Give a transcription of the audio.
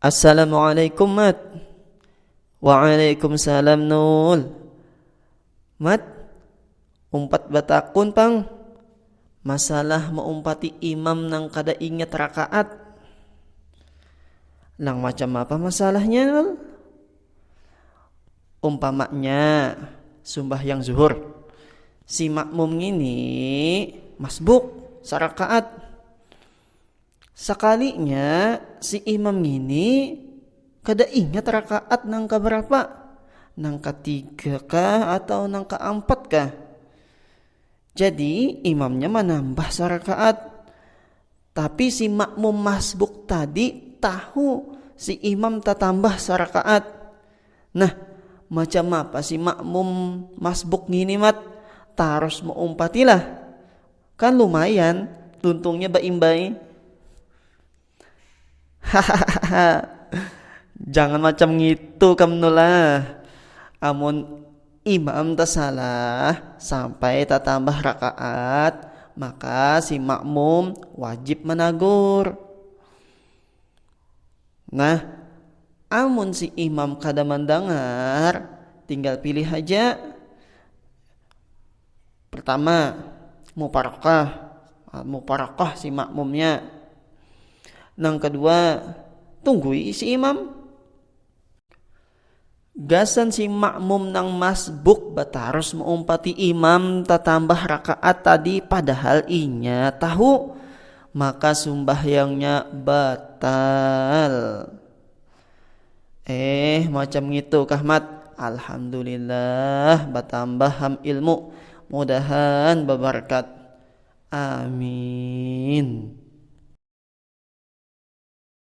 Assalamualaikum mat Waalaikumsalam nul Mat Umpat batakun pang Masalah meumpati imam nang kada ingat rakaat Nang macam apa masalahnya nul Umpamanya sumbahyang zuhur. Si makmum ini masbuk sarakaat. Sakalinya si imam ini kada ingat rakaat nang keberapa? Nang ketiga kah atau nang keempat kah? Jadi imamnya menambah sarakaat Tapi si makmum masbuk tadi tahu si imam tatambah sarakaat. Nah, macam apa si makmum masbuk ngini mat, tarus maumpatilah. Kan lumayan tuntungnya baimbai. Hahahaha jangan macam ngitu kam nulah amun Imam tasalah sampai tatambah rakaat, maka si makmum wajib managur. Nah, amun si imam kada mandangar, tinggal pilih haja. Pertama, muparakah, ah, muparakah si makmumnya. Nang kedua, tunggui si imam. Gasan si makmum nang masbuk batarus maumpati imam tatambah rakaat tadi padahal inya tahu maka sumbahyangnya batal. Eh macam ngitu kah mat? Alhamdulillah batambah ham ilmu. Mudahan babarkat. Amin.